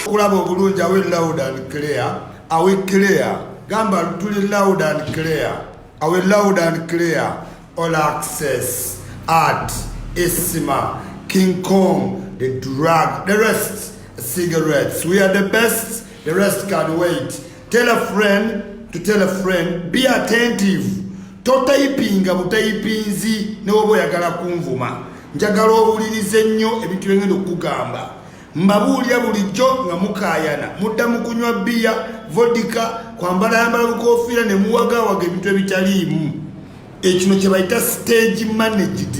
okulaba obulungi awe loud and clear awe clear gamba tuli loud and clear awe loud and clear all access art isima king kong the drug the rest cigarettes we are the best the rest can wait tell a friend to tell a friend be attentive totayipinga butayipinzi newoba oyagala kunvuma njagala owulirize nnyo ebintu byengenda okugamba mbabuulira bulijjo nga mukaayana mudda mu kunywa bbiya vodika kwambalayambala lukofiira ne muwagawaga ebintu ebitaliimu ekino kye bayita stage managed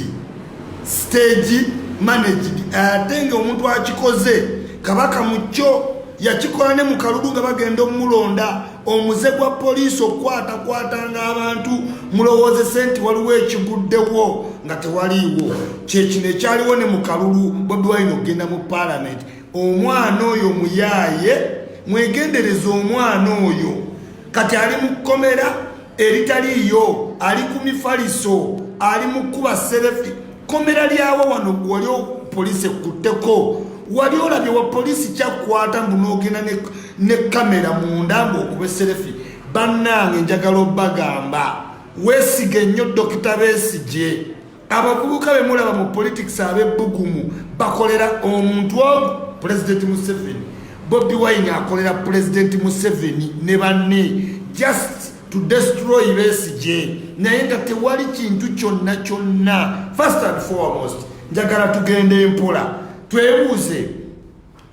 stage managed ate nga omuntu akikoze kabaka mu kyo yakikola ne mu kalulu nga bagenda omulonda omuze gwa poliisi okukwatakwatanga abantu mulowoozese nti waliwo ekiguddewo nga tewaliiwo kyekino ekyaliwo ne mu kalulu bobi wine okugenda mu paalamenti omwana oyo muyaaye mwegendereza omwana oyo kati ali mu kkomera eritaliiyo ali ku mifaliso ali mu kuba serefi kkomera lyawo wano wali poliisi ekkutteko wali olabye wa poliisi kyakukwata mbu n'ogenda ne ne kamera munda ng'okuba eserefi bannange njagala obagamba weesige nnyo dokita besigye abavubuka be mulaba mu politics ab'ebbugumu bakolera omuntu ogu pulezidenti museveni bobi wine akolera pulezidenti museveni ne banne just to destroy besigye naye nga tewali kintu kyonna kyonna first and foremost njagala tugenda empola twebuuze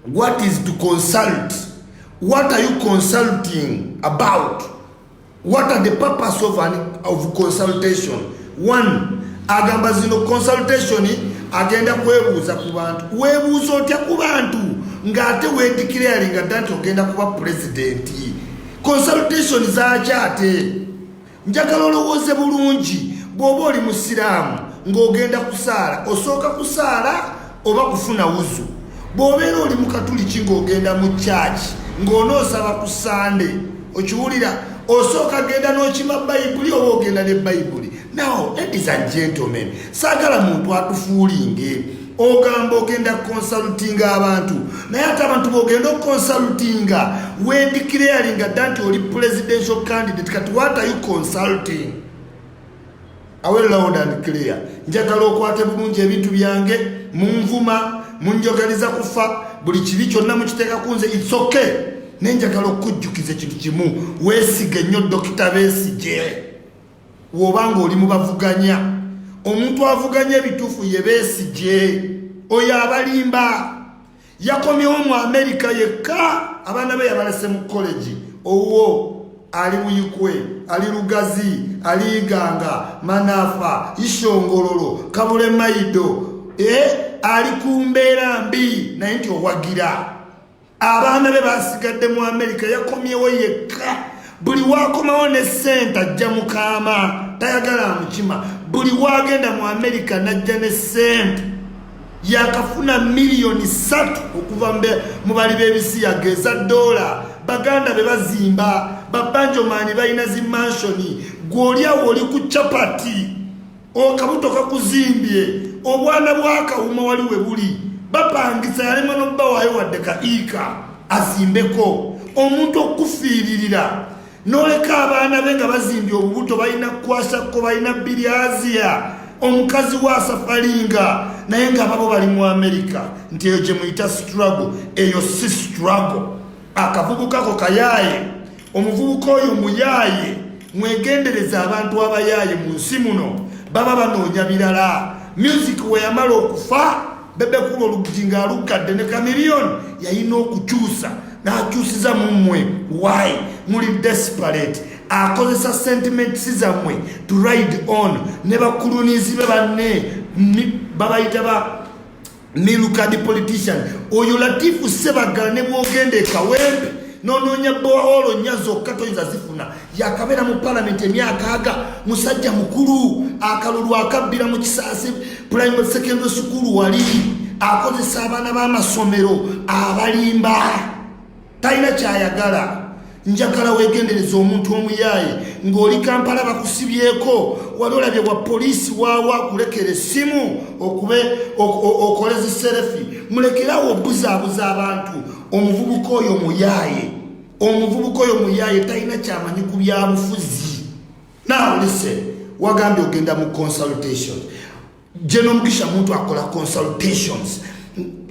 What is to consult? What are you consulting about? What are the purpose of, an, of consultation? One, agamba zino consultation agenda kwebuuza ku bantu. Webuuza otya ku bantu ng'ate weedikirayalinga dda nti ogenda kuba pulezidenti. Consultation zaaki ate? njagala olowooze bulungi bw'oba oli musiraamu ng'ogenda kusaala osooka kusaala oba kufuna wuzu bw'obeera oli mu katuliki ng'ogenda mu kyaki ng'onoosaba ku sande okiwulira osooka genda n'okima bayibuli oba ogenda ne bayibuli naw ladies and gentlemen saagala muntu atufuulinge ogamba ogenda kukonsalutinga abantu naye ate abantu bogenda okukonsalutinga wendikirayalinga dda nti oli presidential candidate kati what are you consulting awe loud and clear njagala okwate bulungi ebintu byange munvuma munjogaliza kufa buli kibi kyonna mukiteeka ku nze its okay naye njagala okukujjukiza ekintu kimu weesige nnyo dokita besigye woba nga oli mubavuganya omuntu avuganya ebituufu ye besigye oyo abalimba yakomyewo mu amerika yekka abaana be yabalese mu kolegi owo ali buyikwe ali lugazi ali iganga manafa ishongololo kabule maido e ali ku mbeera mbi naye nti owagira abaana be basigadde mu amerika yakomyewo yekka buli wakomawo ne sente ajja mukaama tayagala amukima buli wagenda mu amerika najja ne sente yakafuna miliyoni satu okuva mu bali b'ebisiyaga eza dola baganda be bazimba babanjomaani balina zimanshoni gw'olyawo oli ku capati okabuto kakuzimbye obwana bwakawuma wali we buli bapangisa yalema nobbawayo wadde ka iika azimbeko omuntu okufiiririra noleka abaana be nga bazimbye obubuto balina kukwasakko balina biryaziya omukazi wa safalinga naye nga babo bali mu amerika nti eyo gyemuyita struggle eyo si struggle akavubuka ko kayaaye omuvubuka oyo muyaaye mwegendereza abantu abayaaye mu nsi muno baba banoonya birala music weyamala okufa bebekuba oluggi nga aluggadde ne kamiliyoni yalina okukyusa n'akyusiza mu mmwe why muli desperate akozesa sentiments zammwe to ride on ne bakulunizi be banne babayita ba milukadi politician oyo latifu sebaggala ne bwogenda ekawembe nonoonya boolo nnya zokka toyinza zifuna yakabeera mu palamenti emyaka aga musajja mukulu akalulu akabbira mu kisaasi primary secondary sukulu wali akozesa abaana b'amasomero abalimba talina kyayagala njagala wegendereza omuntu omuyaaye ng'oli kampala bakusibyeko wali olabye bwa poliisi waawa kulekera essimu okube okoleza serefi mulekerawo obuzaabuza abantu omuvubuka oyo muyaaye omuvubuka oyo muyaaye talina kyamanyi ku byabufuzi naolise wagambye ogenda mu consultation General Mugisha muntu akola consultations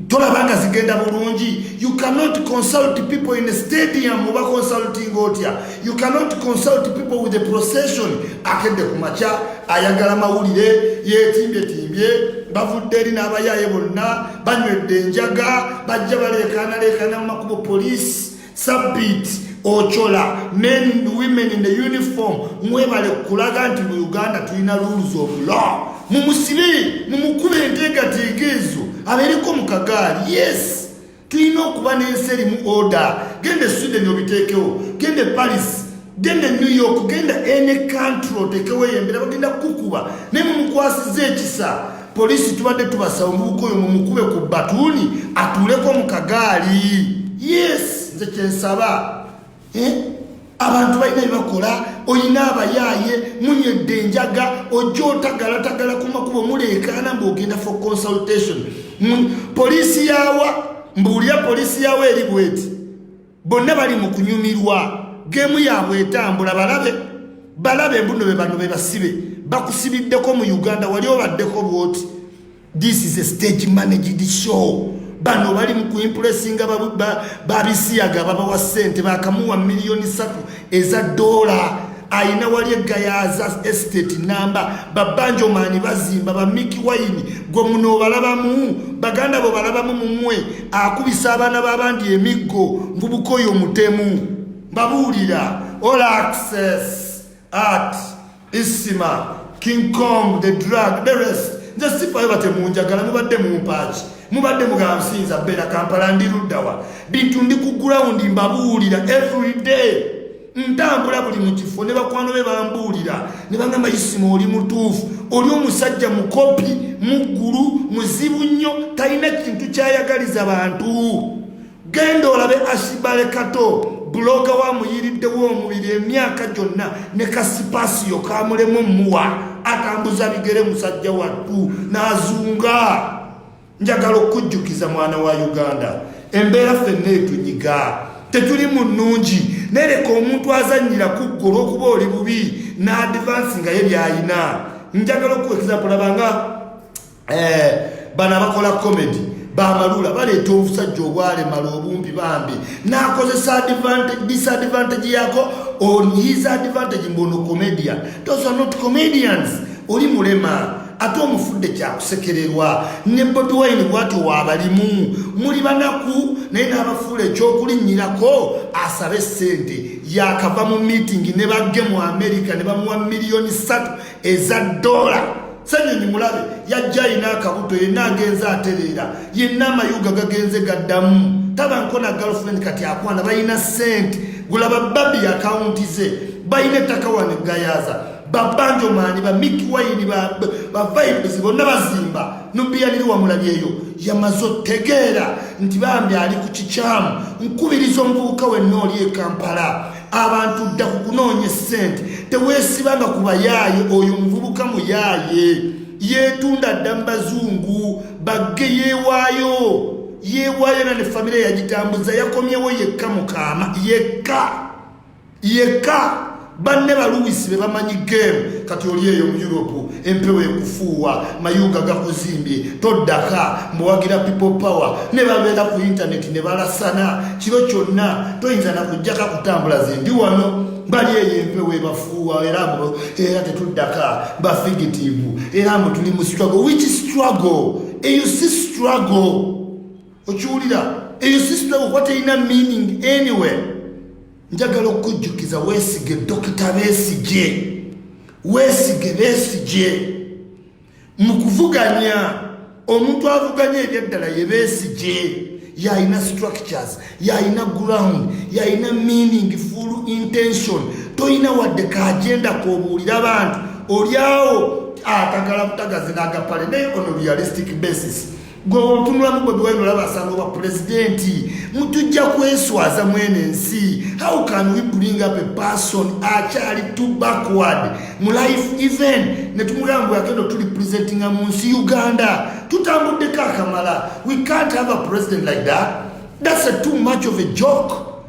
tolaba nga zigenda bulungi you cannot consult people in a stadium oba consulting otya you cannot consult people with a procession akedde ku makya ayagala mawulire yetimbetimbye bavudde eri n'abayaaye bonna banywedde enjaga bajja baleekaanaleekaana mu makubo poliisi sabit ocola men and women in the uniform mwebale kulaga nti mu uganda tulina rules of law mumusibe mumukube enteekateeka ezo abeereko mu kagaali yes tulina okuba n'ensi erimu order genda e sweden obiteekewo genda e paris genda e new york genda ene country oteekewo eyembera bagenda kukukuba naye mumukwasiza ekisa Poliisi tubadde tubasaba omuvubuka oyo mumukube ku batuuni atuuleko mu kagaali. Yes, nze kyensaba. Eh? Abantu balina byebakola, olina abayaaye, munyedde enjaga, ojja otagalatagala ku makubo muleekaana ng'ogenda for consultation. Poliisi yawa mbuulira poliisi yawa eri bweti. bonna bali mu kunyumirwa gemu yaabwe etambula balabe balabe mbuno be bano bebasibe bakusibiddeko mu uganda wali obaddeko bwoti this is a stage managed show bano bali mu kuimpulesinga babisiyaga babawa sente bakamuwa miliyoni satu eza doola alina wali eggayaaza estate namba babanjomaani bazimba bamiki wayini gwe muno obalabamu baganda bo balabamu mumwe akubisa abaana b'abandi emiggo ngubukoyo omutemu mbabuulira all access art Isima, King Kong, the drug, the rest. Nze sifayo bate munjagala mubadde mumpaaki mubadde mugansinza bera kampala ndi luddawa bintu ndi ku ground mbabuulira every day ntambula buli mu kifo ne bakwano be bambuulira ne bangamba isima oli mutuufu oli omusajja mukopi muggulu muzibu nnyo talina kintu kyayagaliza bantu genda olabe ashibale kato buloga wa muyiriddewo omubiri emyaka gyonna ne kasipasiyo kamulemu muwa atambuza bigere musajja wattu n'azunga njagala okujjukiza mwana wa uganda embeera fenna etunyiga tetuli mu nnungi nereka omuntu azannyira ku ggwe olw'okuba oli bubi n'adivansi nga ye by'alina njagala okuwekizapulabanga eh, bano abakola comedy bamalula baleeta obusajja obwalemala obumpi bambi nakozesa disadvantage yako on his advantage mbono comedian those are not comedians oli mulema ate omufudde kyakusekererwa ne bobi wine bwati wabalimu muli banaku naye n'abafuula ekyokulinnyirako asabe ssente yakava mu miitingi ne bagge mu amerika ne bamuwa miliyoni ssatu eza dola senyonyi mulabe yajja alina akabuto yenna agenze atereera yenna amayuga gagenze gaddamu tabanko na girlfriend kati akwana balina sente gulaba babi akawunti ze balina ettaka wano egayaza babanjo maani ba miki wayini bavibes bonna bazimba nubiyaniri wamulabyeyo yamaze otegeera nti bambi ali ku kikyamu nkubiriza omuvubuka wenna oli ekampala abantu dda ku kunoonya essente teweesibanga ku bayaaye oyo omuvubuka muyaaye yeetunda dda mu bazungu bagge yeewaayo yeewaayo na ne famire yagitambuza yakomyewo yekka mukaama yekka yekka banne baluwisi be bamanyi geemu kati oli eyo mu europe empewo ekufuuwa mayuuga gakuzimbye toddaka mbuwagira people power ne babeera ku intaneti ne balasana kiro kyonna toyinza nakujjaka kutambula zendi wano bali eyo empewo ebafuuwa era era tetuddaka bafigitivu era mbu tuli mu struggle which struggle eyo si struggle okiwulira eyo si struggle kuba terina meaning anywhere njagala okujjukiza weesige dokita beesigye weesige beesigye mu kuvuganya omuntu avuganya ebyaddala ye beesigye yalina structures yalina ground yalina meaning full intention tolina wadde kaagenda kobuulira abantu olyawo atagala butagazi n'agapale naye on realistic basis gwe otunulamu bobi wine olaba asanga oba pulezidenti mutujja kweswaza mwene ensi how can we bring up a person akyali to backward mu life even netumugamba bweyagenda otuli presentinga mu nsi uganda tutambuddeko akamala we can't have a president like that that's a too much of a joke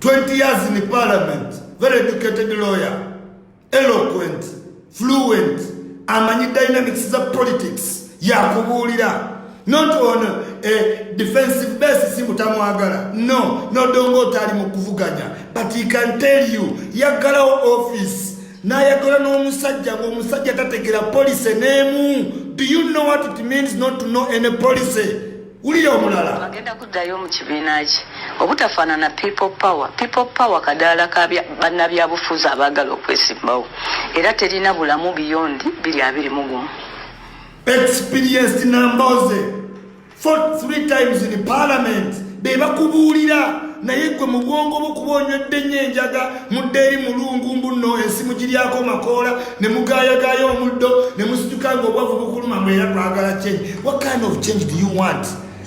20 years in parliament very educated lawyer eloquent fluent amanyi dynamics za politics yakubuulira not on a defensive base simutamwagala no nodonga otaali mu kuvuganya but he can tell you yaggalawo office nayagala n'omusajja ngaomusajja tategera policy n'emu do you know what it means not to know any policy wulira omulala agenda kuddayo mu kibiina kye obutafaanana people power people power kadaala ka bannabyabufuzi abaagala okwesimbawo era terina bulamu biyondi biri abiri mu gumu experienced namboze for three times in parliament be bakubuulira naye gwe mu bwongo bwokuba onywedde nnyo enjaga mudde eri mulungu mbuno ensi mugiryako makoola ne mugayagaya omuddo ne musituka nga obwavu bukuluma mwe era twagala change what kind of change do you want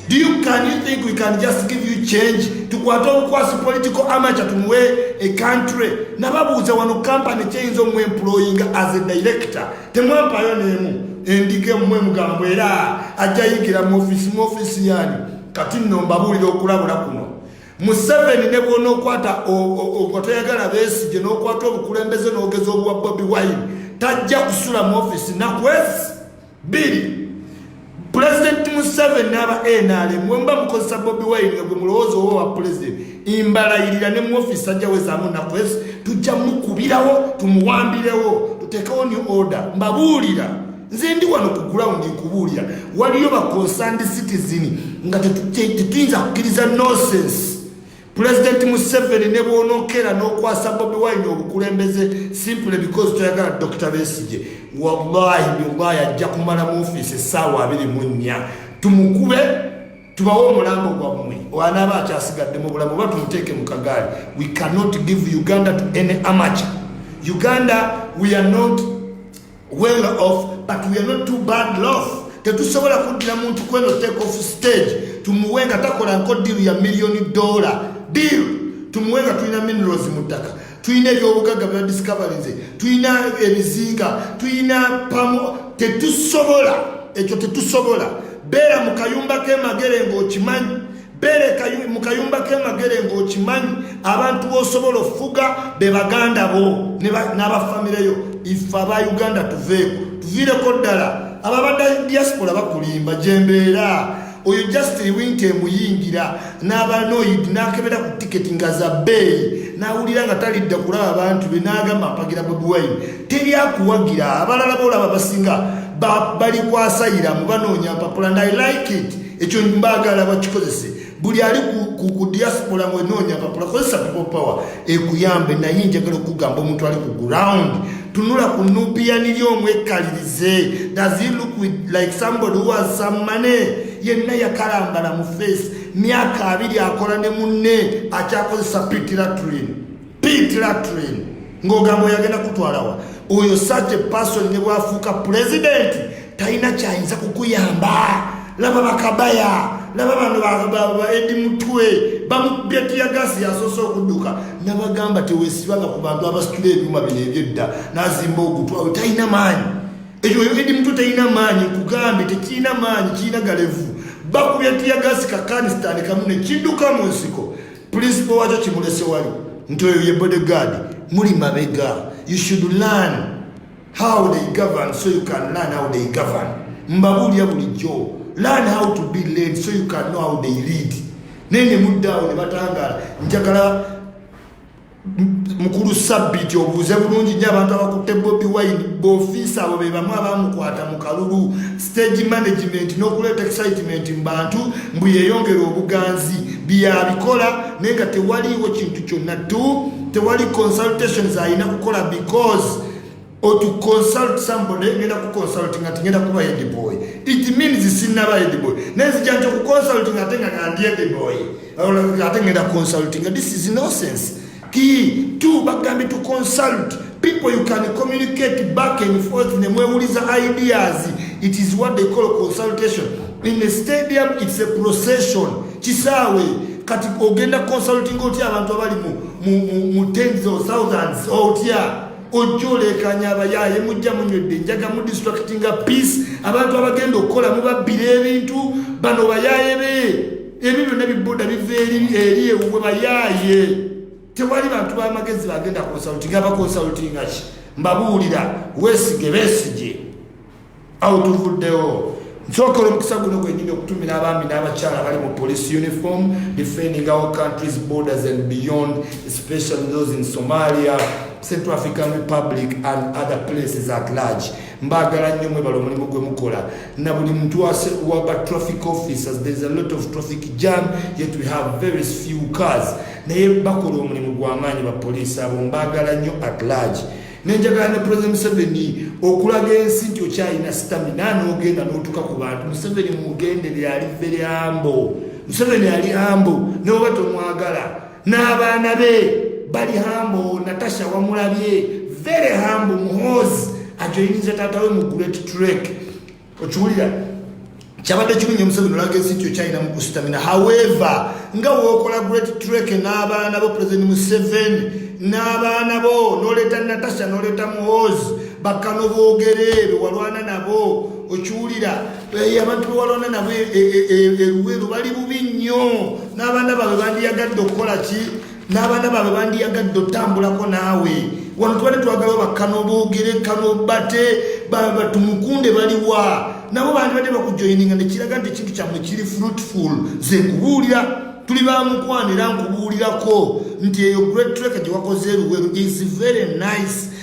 do you can you think we can just give you change tukwate obukwasi political amateur tumuwe a country nababuuza wano company kyeyinza omu employinga as a director temwampayo nemu endiga emumwe mugambo era ajja yigira mu ofisi mu ofisi yani kati nno mbabuulira okulabula kuno museveni ne bwonokwata nga toyagala besigye nokwata obukulembeze nogeza obwa bobi wine tajja kusula mu ofisi nakwezi biri pulezidenti museveni n'aba nrm wemba mukozesa bobi wine nga gwe mulowooza oba wa pulezidenti imbalayirira ne mu ofisi ajja wezaamu nakwezi tujja mukubirawo tumuwambirewo tutekewo new order mbabuulira nze ndi wano ku gulawundi nkubuulira waliyo baconsand citizen nga tetuyinza kukkiriza nosense pulezidenti museveni ne bwonokeera n'okwasa bobi wine obukulembeze simple because toyagala dokita besigye wallahi billahi ajja kumala mu ofiisi essaawa abiri mu nnya tumukube tubawo omulambo gwammwe anaaba akyasigadde mu bulamu oba tumuteeke mu kagaali we cannot give uganda to any amateur uganda we are not well off but we are not too bad lof tetusobola kuddira muntu kweno take off stage tumuwe nga takola nko diru ya milliyoni dollar deal tumuwe nga tulina minerals mu ttaka tulina ebyobugagga bya discoveryze tulina ebizinga tulina pamo tetusobola ekyo tetusobola beera mu kayumba k'emagere ng'okimanyi bere mu kayumba k'emagere ng'okimanyi abantu b'osobola ofuga be baganda bo n'abafamireyo ife aba uganda tuveeko tuviireko ddala ababadde diaspora bakulimba gyembeera oyo just winta emuyingira n'abanoid n'akebera ku tiketi nga za bbeeyi n'awulira nga talidda kulaba abantu be n'agamba apagira bobiwine teri akuwagira abalala boolaba basinga balikwasayira mu banoonya mpapula ndi like it ekyo mbaagala bakikozese buli ali ku diaspora mwenoonya papula kozesa people power ekuyambe naye njagala okugamba omuntu ali ku ground tunula ku nubiyaniri omwekkalirize does he look with like somebody who has some money yenna yakalambala mu face myaka abiri akola ne munne akyakozesa pitilatrin Pete Latrine ng'ogamba oyagenda kutwalawa oyo such a person ne bwafuuka pulezidenti talina kyayinza kukuyamba laba bakabaya laba bano baedi mutwe bamubetiyagasi yasoose okudduka nabagamba tewesibanga ku bantu abasitula ebyuma bino ebyedda nazimba ogutwawe talina maanyi ekyo edi mutwe talina maanyi kugambye tekirina maanyi kirina galevu bakubetiyagasi kakanisitani kamu nekidduka mu nsiko principal wakyo kimulese wali nti oyo ye bodyguard muli mabega you should learn how they govern so you can learn how they govern mbabuulira bulijjo learn how to be led so you can know how they lead naye ne muddaawo ne batangaala njagala mukulu sabbiti obuuze bulungi nyo abantu abakutte bobi wine bofiisa abo be bamu abamukwata mu kalulu stage management n'okuleeta excitement mu bantu mbu yeyongera obuganzi byeyabikola naye nga tewaliiwo kintu kyonna tu tewali consultations alina kukola because or to consult somebody ngenda ku consulting ati ngenda kuba head boy it means sinaba head boy nezija nti ku consulting ate nga ngandi head boy ate ngenda consulting this is nonsense ki tu bagambye to consult people you can communicate back and forth ne mwewuliza ideas it is what they call consultation in a stadium it's a procession kisaawe kati ogenda consulting otya abantu abali mu, mu, mu, mu tens or thousands otya ojja oleekaanya abayaaye mujja munywedde enjaga mu distractinga peace abantu abagenda okukola mubabbira ebintu bano bayaaye be ebyo byonna bibuda biva eri eri ewuwe bayaaye tewali bantu bamagezi bagenda konsultinga bakonsultinga ki mbabuulira weesige beesige awo tuvuddewo nsokola omukisa guno gwenyini okutumira abaami n'abakyala bali mu police uniform defending our countries borders and beyond especially those in somalia central african republic and other places at large mbagala nnyo mwebala omulimu gwe mukola na buli muntu waba traffic officers there's a lot of traffic jam yet we have very few cars naye bakola omulimu gw'amaanyi bapoliisi abo mbagala nnyo at large nenjagala ne president museveni okulaga ensi nti okyalina sitamina nogenda notuka ku bantu museveni mugendere ali vere ambo museveni ali ambo neoba tomwagala n'abaana be bali hambo natasha wamulabye vere hambo muhozi ajoyiniza taata we mu great trek okiwulira kyabadde kimunye museveni olaga ensi nti okyalina mu kusitamina however nga wokola great trek n'abaana bo president museveni n'abaana bo noleeta natasha noleeta muhoozi bakkano boogere bewalwana nabo okiwulira eh, abantu bewalwana nabo eruweru eh, eh, bali bubi nnyo n'abaana baabwe bandiyagadde okukola ki n'abaana baabwe bandiyagadde otambulako naawe wano tubadde twagala bakkano boogere kano bate tumukunde baliwa nabo bandibadde bakujoyininga nekiraga nti ekintu kyammwe kiri fruitful ze kubuulira tuli bamukwana era nkubuulirako nti eyo great trek gye wakoze eruweru is very nice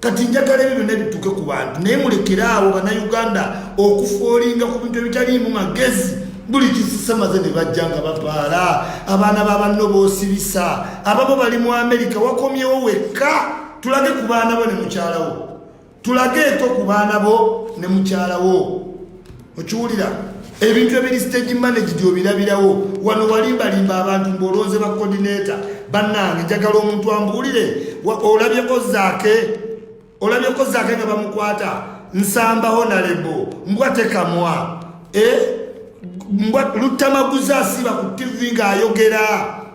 kati njagala ebyo byonna bituuke ku bantu naye mulekere awo bannayuganda okufoolinga ku bintu ebitaliimu magezi buli kisisamaze ne bajja nga bapaala abaana babanno boosibisa ababo bali mu amerika wakomyewo wekka tulage ku baana bo ne mukyalawo tulage eto ku baana bo ne mukyalawo okiwulira ebintu ebiri stage managed obirabirawo wano walimbalimba abantu mbolonze ba coordinator bannange njagala omuntu ambuulire olabyeko zaake olabyeko zaake nga bamukwata nsamba honalebo mbwa tekamwa e mbwa lutamaguza asiba ku tivi ng'ayogera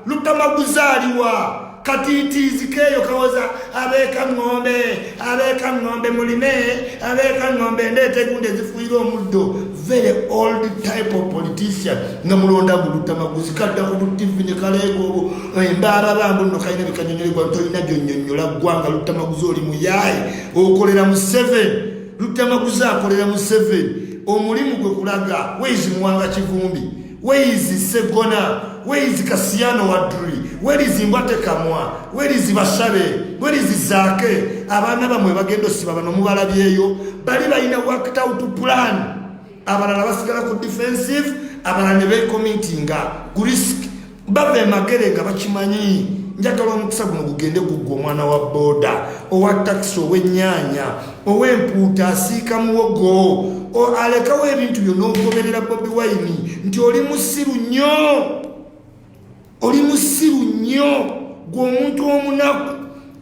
lutamaguza aliwa katiitiizi keeyo kawoza abeeka ŋŋombe abeeka ŋŋombe mulime abeeka ŋŋombe endeeta egundi ezifuuyira omuddo very old type of politician nga mulonda gulutamaguzi kadda ku butivi ne kaleega olwo embaaba bambu nno kalina bikanyonyolegwa ntolina gyonyonyola ggwanga lutamaguzi oli muyaaye okolera mu seven lutamaguzi akolera mu seven omulimu gwe kulaga weizi muwanga kivumbi Weizi Segona, Weizi Kasiyano Wadri, Welizi Mbwate Kamwa, Welizi Bashabe, Welizi Zake, abana bamwe bagendo siba bano mubala byeyo, bali bayina worked out plan. Abana nabasigala ku defensive, abana nebe committing nga risk. Babe makere nga bakimanyi. Njagala omukisa guno gugende gugwa omwana wa boda, owa taxi, owe nyanya. ow'empuuta asiika muwogo alekawo ebintu byo n'ogoberera bobi wayini nti oli musiru nnyo oli musiru nnyo gweomuntu omunaku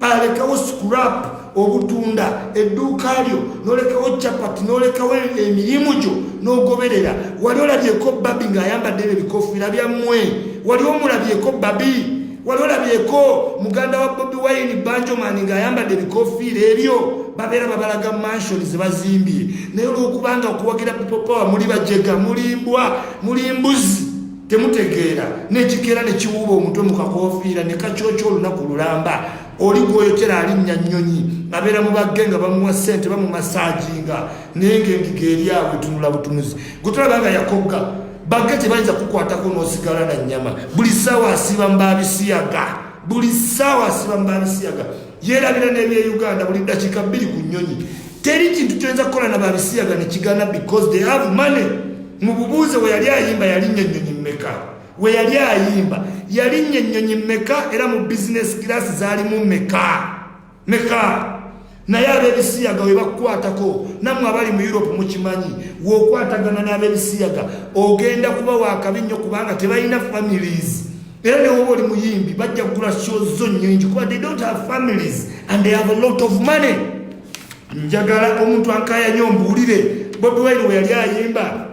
alekawo scrap obutunda edduuka lyo nolekawo chapati nolekawo emirimu gyo nogoberera wali olabyeko babi ng'ayambadde ebyo ebikofiira byammwe wali omulabyeko babi wali olabyeko muganda wa bobi wine banjomani ng'ayambadde ebikofiira ebyo babeera babalaga mansion zebazimbye naye olwokubanga okuwagira pipopawa muli bajega mulimbwa muli mbuzi temutegeera nekikeera nekiwuuba omutwe mukakofiira nekakyokya olunaku lulamba oli gwoyokera alinnya nnyonyi abeera mu bagge nga bamuwa ssente bamumasajinga naye ngaengiga eri awo etunula butunuzi gutulabanga yakogga bage tebayinza kukwatako nosigala na nyama buli sawa asiba mbabisiyaga buli sawa asiba mbabisiyaga yerabira nebye uganda buli dakika biri ku nyonyi teri kintu kyoyinza kukola na babisiyaga nekigana because they have money mububuuze weyali ayimba yalinya enyonyi mumeka weyali ayimba yalinya enyonyi mumeka era mu business class zalimu meka meka naye ab'ebisiyaga we bakukwatako nammwe abali mu europe mukimanyi w'okwatagana n'ab'ebisiyaga ogenda kuba wakabi nnyo kubanga tebalina families era newoba oli muyimbi bajja kugula show zo nnyingi kuba they don't have families and they have a lot of money njagala omuntu ankayanya ombuulire bobi wine we yali ayimba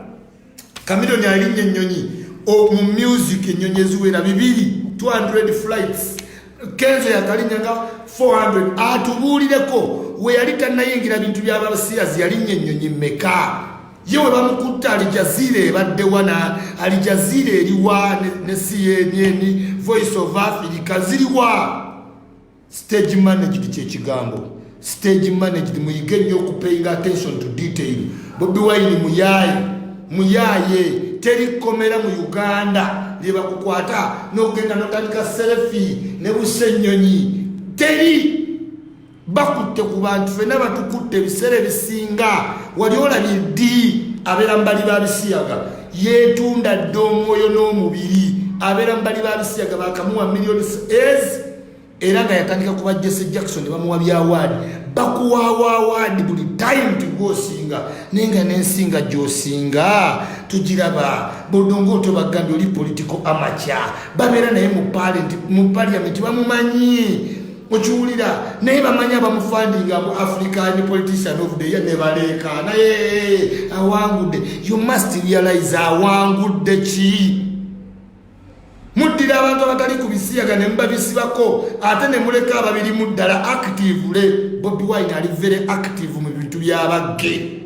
Chameleone alinnye ennyonyi mu music ennyonyi eziwera bibiri 200 flights kenzo yakalinya nga 400 atubuulireko we yali tannayingira bintu byabasiyazi yalinnya ennyonyi meka ye we bamukutte alijaziira ebaddewa na alijaziira eriwa ne cnn voice of africa ziriwa Stage managed kyekigambo stage managed muyige nnyo okupayinga attention to detail bobi wine muyaye muyaye teri komera mu uganda lyebakukwata nokugenda notandika selefi ne busenyonyi teri bakutte ku bantu fena batukutte ebiseera ebisinga wali olabye ddi abeera mubali ba bisiyaga yetunda dda omwoyo n'omubiri abeera mubali ba bisiyaga bakamuwa millions as era nga yatandika kuba jesse jackson ne bamuwa byawaadi bakuwawaawaadi buli time tigwosinga naye nga nensinga gyosinga tugiraba bodonga otobagambye oli political amaca babeera naye mu paliamenti bamumanyi okiwulira naye bamanyi abamufandinga mu african politician of the year nebaleeka naye awangudde you must realize awangudde ki muddira abantu abatali ku bisiyaga ne mubabisibako ate ne muleka ababirimu ddala actively bobi wine ali very active mu bintu byabagge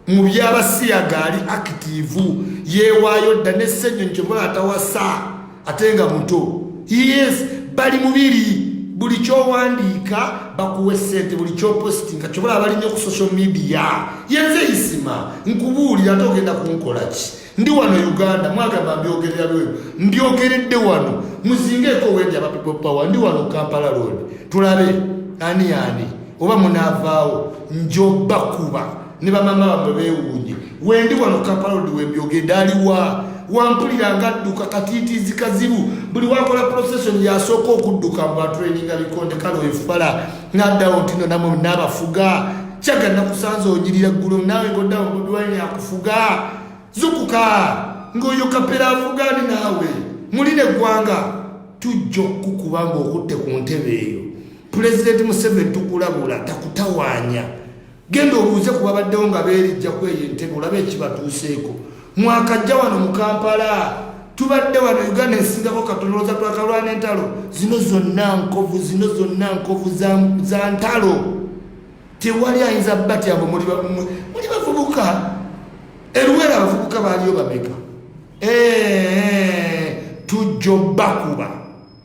mu byabasiyaga ali active yeewaayo dda nesenyo nkyobola atawasa ate nga muto yes bali mubiri buli kyowandiika bakuwa esente buli kyopositinga kyobola abalinyo ku social media yenze isima nkubuulira ate ogenda kunkolaki ndi wano uganda mwagamba mbyogerera lweru mbyogeredde wano muzingeeko wendi aba people power ndi wano kampala road tulabe ani ani oba munaavaawo njobakuba ne bamama bamwe bewuunye wendi wano kampala road wembyogedde aliwa wampulira nga adduka katiitiizi kazibu buli wakola procession yasooka okudduka mbu atraininga bikonde kale efala naddawo ntino namwe naabafuga kyaga nakusanza onyirira ggulo naawe ngoddawo mudwani akufuga zukuka ng'oyo kapera afuga ni naawe muli ne ggwanga tujja okukuba ng'okutte ku ntebe eyo pulezidenti museveni tukulabula takutawaanya Genda obuuze ku babaddewo nga beerijja ku eyo entebe olaba ekibatuuseeko. Mwakajja wano mu Kampala tubadde wano Uganda esingako katonooza twakalwana entalo zino zonna nkovu zino zonna nkovu za ntalo tewali ayinza batya mbu muli bavubuka eruwera abavubuka baaliyo bameka tujjo bakuba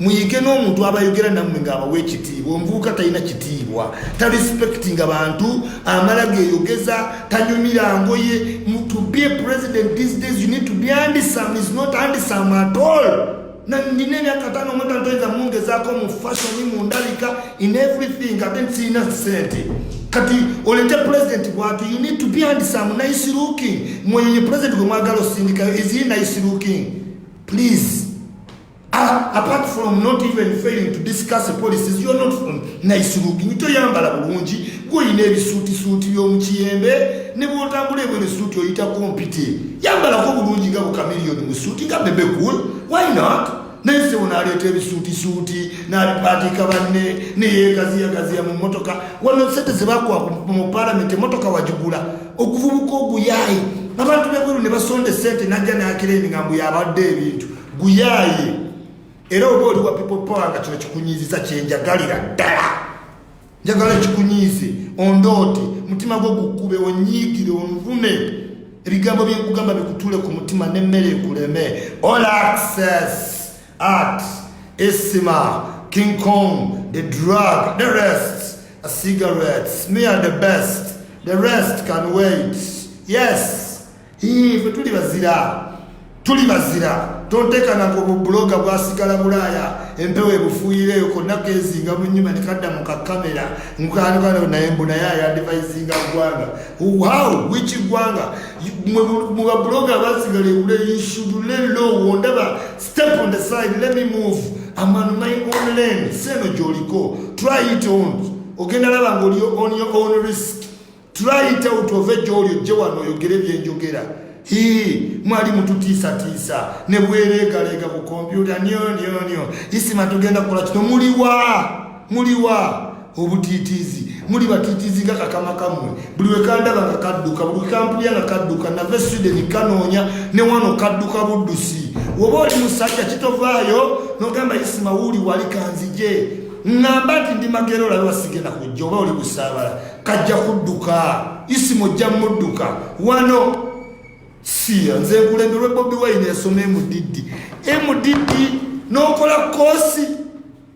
muyige n'omuntu abayogera nammwe ng'abawa ekitiibwa omuvubuka talina kitiibwa tarespectinga bantu amala geyogeza tanyumira ngoye to be a president these days you need to be andisome is not andisome at all nandina emyaka tano omuntu antoyinza mungezaako mu fashion mu ndabika in everything ate nsiina sente kati olete president bwatu you need to be andisome nice looking mweyo ye president gwe mwagala osindikayo is he nice looking please Ah, apart from not even failing to discuss the policies you're not from nice looking toyambala bulungi gwoyina ebisuutisuuti by'omukiyembe ne bwotambula ebwene suuti oyita kompiti yambalako bulungi nga bukamiliyoni mu suuti nga bebe cool why not naye sebo naleeta ebisuutisuuti nalipaatiika banne neyegaziyagaziya mu motoka wano sente zebakuwa mu palamenti emotoka wagigula okuvubuka oguyayi abantu bebweru ne basonda esente najja nakira emigambo yabadde ebintu guyaaye era oba oli wa people power nga kino kikunyiiziza kyenjagalira ddala njagala kikunyiize ondoote mutima gwo gukube onyiigire onvune ebigambo byenkugamba bikutule ku mutima nemmere ekuleme all access art isima king kong the drug the rest a cigarettes me are the best the rest can wait yes fe tuli bazira tuli bazira tontekana ku bubuloga bwasigala bulaaya empewo ebufuuyireyo konna kezinga munyuma nekadda mu kakamera nkanukana naye mbunaye ayadivayizinga ggwanga how which ggwanga mu babuloga abasigala ebule you should lay low wondaba step on the side let me move am on my own lane seeno gyoliko try it on ogenda laba nga oli on your own risk try it out ove gyoli ojje wano oyogere byenjogera hi mwali mututiisatiisa ne bwereegaleega ku kompyuta nyonyonyo isima tugenda kukola kino muliwa muliwa obutiitiizi muli batiitiizi nga kakama kammwe buli wekandaba nga kadduka buli kampulya nga kadduka nave swideni kanoonya ne wano kadduka buddusi woba oli musajja kitovaayo nogamba isima wuuli wali kanzije ŋŋamba nti ndi magero olabe wasigenda kujja oba oli busaabala kajja kudduka isimu ojja mudduka wano siya nze nkulemberwe bobi wine yasoma emudiddi emudiddi nokola kosi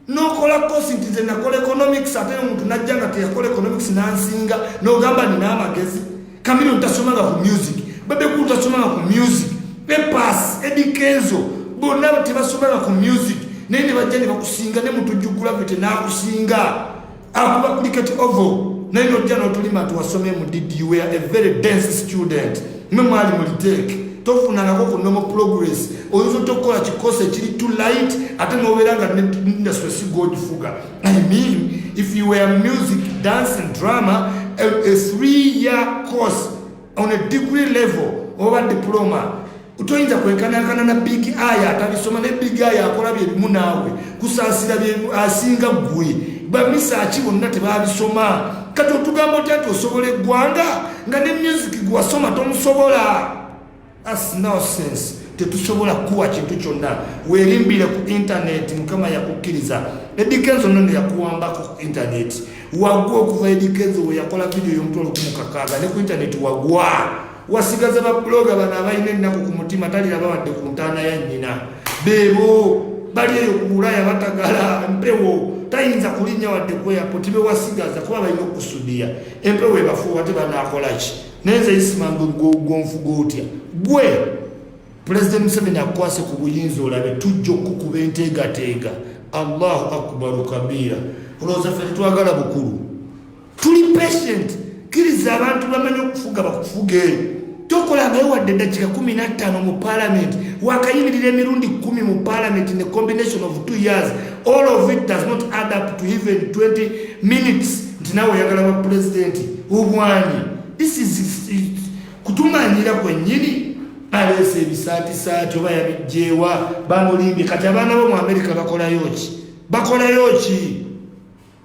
nokola kosi nti nze nakola economics ate omuntu najja nga teyakola economics nansinga nogamba nina amagezi kamiri ntasomanga ku music babekulu tasomanga ku music epas edikenzo bonna tebasomanga ku music naye nebajja nebakusinga nemutujugula bete nakusinga akuba cricket oval naye nojja notulima nti wasomye mu dd you were a very dense student mwe mwali muliteeke tofunangako ku nomo progress oyinza otya okukola kikosi ekiri to light ate nobeera nga industry sigogifuga i mean if you were music dance and drama a, a three year course on a degree level oba diploma toyinza kwenkanankana na big eye atabisoma ne big eye akola byebimu naawe kusaasira asinga ggwe bamisaaki bonna tebabisoma kati otugamba otya nti osobola eggwanga nga ne music gwewasoma tomusobola as nosense tetusobola kuwa kintu kyonna werimbire ku intaneti mukama yakukkiriza edikenzo nono yakuwamba ku intaneti wagwa okuva edikenzo weyakola vidiyo yomutwalo kumukakaaga ne ku intaneti wagwa wasigaza babuloga bano abalina ennaku ku mutima taliraba wadde ku ntaana ya nnyina beebo bali eyo ku bulaya batagala mpewo tayinza kulinnya wadde kweyaputi bewasigaza kuba balina okusudiya empewo ebafuuwa te banakolaki naye nze isimanga gonfuga otya gwe pulezidenti museveni akukwase ku buyinza olabe tujja okukuba enteegateega allahu akbaru kabiira olowooza ffe tetwagala bukulu tuli patient kiriza abantu bamanyi okufuga bakufuge tokola naye wadde dakika 15 mu parliament wakayimirira emirundi 1 mu parliament in a combination of two years all of it does not add up to even 20 minutes nti nawe oyagala ba president obwanyi this is kutumanyira kwenyini aleese ebisaatisaati oba yabijjeewa bamulimbye kati abaana bo mu amerika bakolayo ki bakolayo ki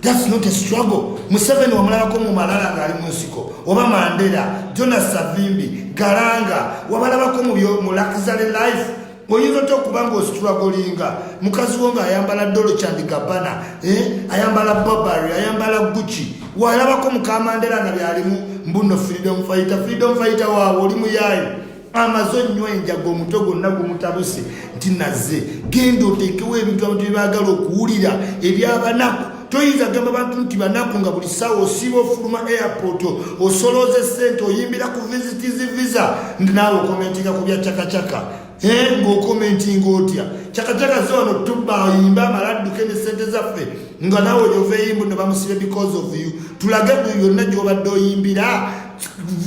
That's not a struggle. Museveni wamulalako mu malala ng'ali mu nsiko oba Mandela, Jonas Savimbi, Garanga wabalabako mu luxury life oyinza otya okuba nga ositulagolinga mukazi wo ng'ayambala dolo chandikabana eh? ayambala bobary ayambala gucci walabako mukamandera nga byalimu mbuno freedom fighter freedom fighter waawe oli muyaayo amaze onywa enjaga omutwe gwonna gumutabuse nti naze genda oteekewo ebintu abantu byebaagala okuwulira ebyabanaku toyinza gamba bantu nti banaku nga buli sawa osiiba ofuluma airport osolooza esente oyimbira ku visits visa ndi naawe okomentinga ku bya cakacaka ngaokomentinga otya cakacaka ze wano tuba oyimba amala adduke ne sente zaffe nga naawe oyovaeyimbu ne bamusibe because of you tulage buli yonna gyobadde oyimbira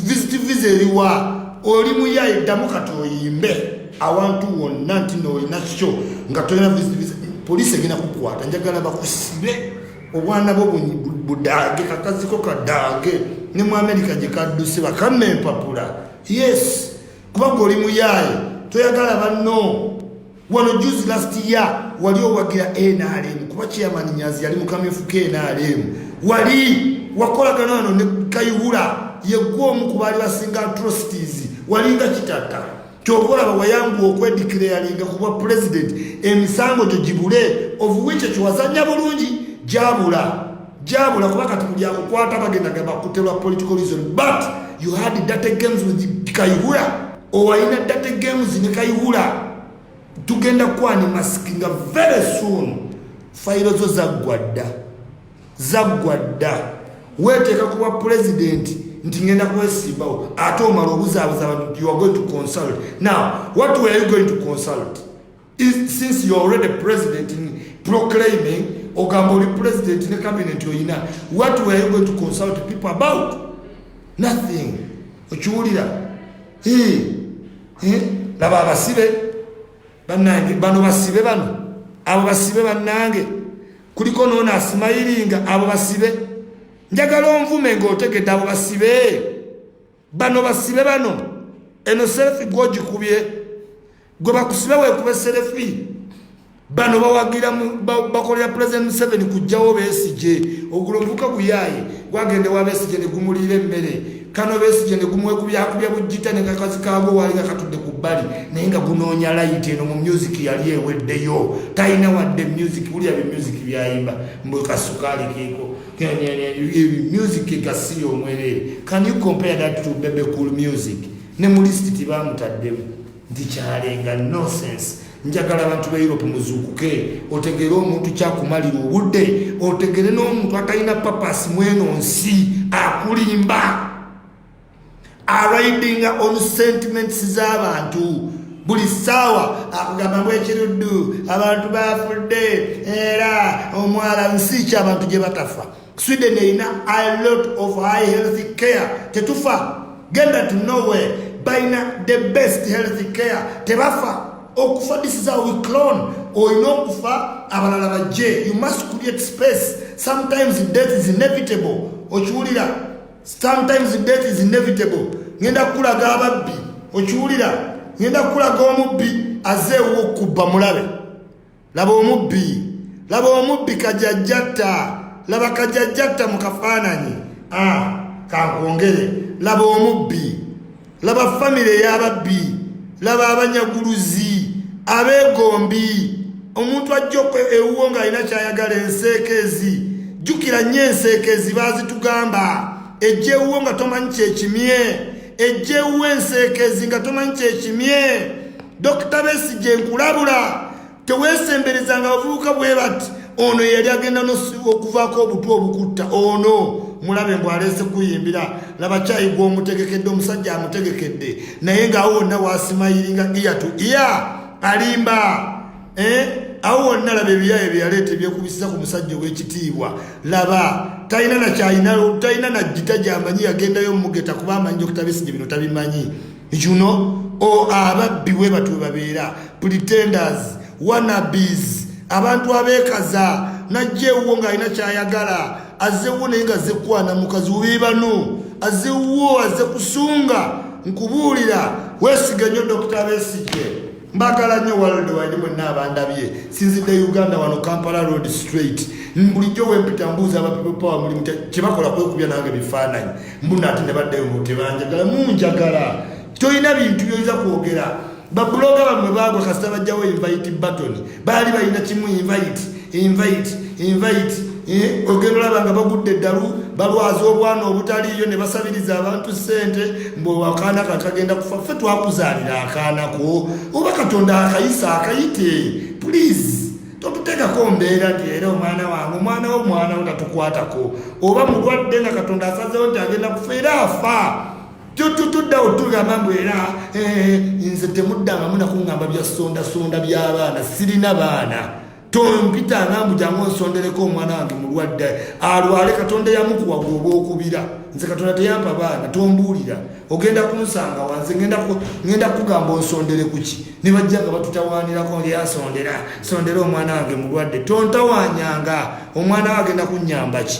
visiti viza eriwa oli muyayi ddamu kati oyimbe awantu wonna nti noolina kyo nga tolina visiti viza poliisi egenda kukwata njagala bakusibe obwana bwo budaage kakaziko kadaage ne mu amerika gye kadduse bakamma empapula yes kubanga oli muyaaye toyagala banno wano juzi last year wali owagira nrm kuba chairman nyazi yali mukamyufu ke nrm wali wakolagana wano ne kayihura yegwe omu ku baali basinga atrocities walinga kitatta kyova olaba wayanguwa okwedikirayalinga ku bwa president emisango gyo gibule ovuwico kiwazanya bulungi gyabula gyabula kuba kati buli akukwata bagendaga bakutelwa political reason but you had data games with kayihura owalina date games ne kayihula tugenda kwani mask nga very soon fayiro zo zaggwa dda zaggwa dda weeteeka kuba pulezidenti nti ngenda kwesimbawo ate omala obuzaabuza abantu you are going to consult now what were you going to consult since you already president in proclaiming ogamba oli president ne cabinet oyina what were you going to consult people about nothing okiwulira laba abasibe banange bano basibe bano abo basibe banange kuliko noona asimayiringa abo basibe njagala onvume ngaotegedde abo basibe bano basibe bano eno selfi gwogikubye gwe bakusibe wekube selfi bano bawagira bakolera president museveni kujjawo besigye ogulo ovuka guyaye gwagende wa besigye negumulira emmere kano besigye negumwekubyakubya bujjita nekakazi kago wali nga katudde ku bbali naye nga gunoonya layiti eno mu music yali eweddeyo talina wadde music wulira be music byayimba mbwekasukaali keeko music egasiya omwerere can you compare that to bebe cool music ne mu list tibamutaddemu nti kyalenga nosense njagala abantu ba europe muzuukuke otegere omuntu kyakumalira obudde otegere n'omuntu atalina papasi mweno nsi akulimba aridinga on sentiments z'abantu buli ssaawa akugamba mu ekiruddu abantu bafudde era omwala nsi ki abantu gye batafa sweden erina a lot of high healthy care tetufa genda to nowhere balina the best healthy care tebafa okufa this is how we clone olina okufa abalala bajje you must create space sometimes death is inevitable okiwulira sometimes death is inevitable ngenda kukulaga ababbi okiwulira ngenda kukulaga omubbi aze ewo okubba mulabe laba omubbi laba omubbi kajajjatta laba kajajjatta mu kafaananyi ah, kankwongere laba omubbi laba famire ey'ababbi laba abanyaguluzi abeegombi omuntu ajja ewuwo ng'alina kyayagala enseekeezi jjukira nnyo enseekeezi baazitugamba ejja ewuwo nga tomanyi kyekimye ejja ewuwo enseekeezi nga tomanyi kyekimye dokita besigye nkulabula teweesemberezanga abavubuka bwe bati ono yeyali agenda okuvaako obutwa obukutta ono mulabe mbw aleese kuyimbira laba kyayi gwomutegekedde omusajja amutegekedde naye ngaawo wonna wasimayiringa iya to iya alimba eh? awo wonna laba ebiyaye byeyaleeta ebyekubisiza ku musajja ow'ekitiibwa laba talina nakyalina talina najjita gyamanyi yagendayo mumugeta kuba amanyi okutabisige bino tabimanyi you know o ababbi we batu babeera pretenders wanabes abantu abekaza najja ewuwo ng'alina kyayagala azewuwo naye nga zekwana mukazi wubi banu azewuwo aze kusunga nkubuulira wesiga nnyo dokita besigye mbagala nnyo walde wali mwenna abandabye sinzidde uganda wano kampala road straight bulijjo wempita mbuuza abapepopawa mulimu kyebakola kwekubya nange bifaananyi mbuna ati nebaddeyo mutebanjagala munjagala tolina bintu byoyinza kwogera babuloga bamwe baagwa kasita bajjawo invite batoni baali balina kimu invite invite invite eh, ogenda olaba nga bagudde eddalu balwaza obwana obutaliiyo ne basabiriza abantu ssente mbu akaana ka kagenda kufa ffe twakuzaalira akaanako oba katonda akayisa akayite pulizi totutekako mbeera nti era omwana wange omwana wo mwana wo tatukwatako oba mulwadde nga katonda asazewo nti agenda kufa era afa tutuddawo tugamba mbu era eh, nze temuddangamu nakungamba byasondasonda byabaana sirina baana tompitanga mbu jangu onsondereko omwana wange mulwadde alwale katonda yamukuwa gwoba okubira nze katonda teyampa baana tombuulira ogenda kunsanga wanze ngenda kugamba onsondere kuki ne bajja nga batutawaanirako ngeasondera sondera omwana wange mulwadde tontawanyanga omwana wo agenda kunyamba ki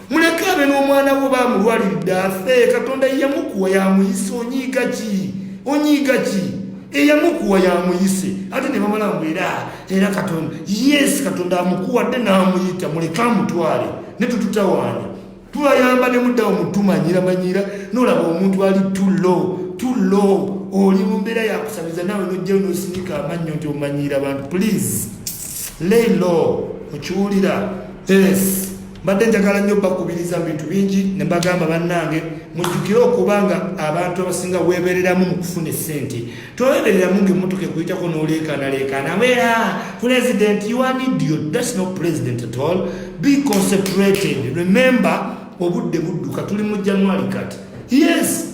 muleke abe n'omwana wo bamulwaliridde afe katonda yamukuwa yamuyise onyiiga ki onyiiga ki eyamukuwa yamuyise ate ne bamala mbu era era katonda yes katonda amukuwadde n'amuyita muleke amutwale ne tututawaanya tubayamba ne muddawo mutumanyiramanyiira n'olaba omuntu ali to low to low oli mu mbeera yakusamiza naawe nojjayo n'osinika amannyo nti omanyiira abantu please lay low okiwulira yes mbadde njagala nnyo bakubiriza mu bintu bingi ne mbagamba bannange mujjukire okuba nga abantu abasinga weebereramu mu kufuna essente toweebereramu ngaemmotoka ekuyitako n'oleekaanaleekaana abeera president you are idiot that's not president at all be concentrated remember obudde budduka tuli mu january kati yes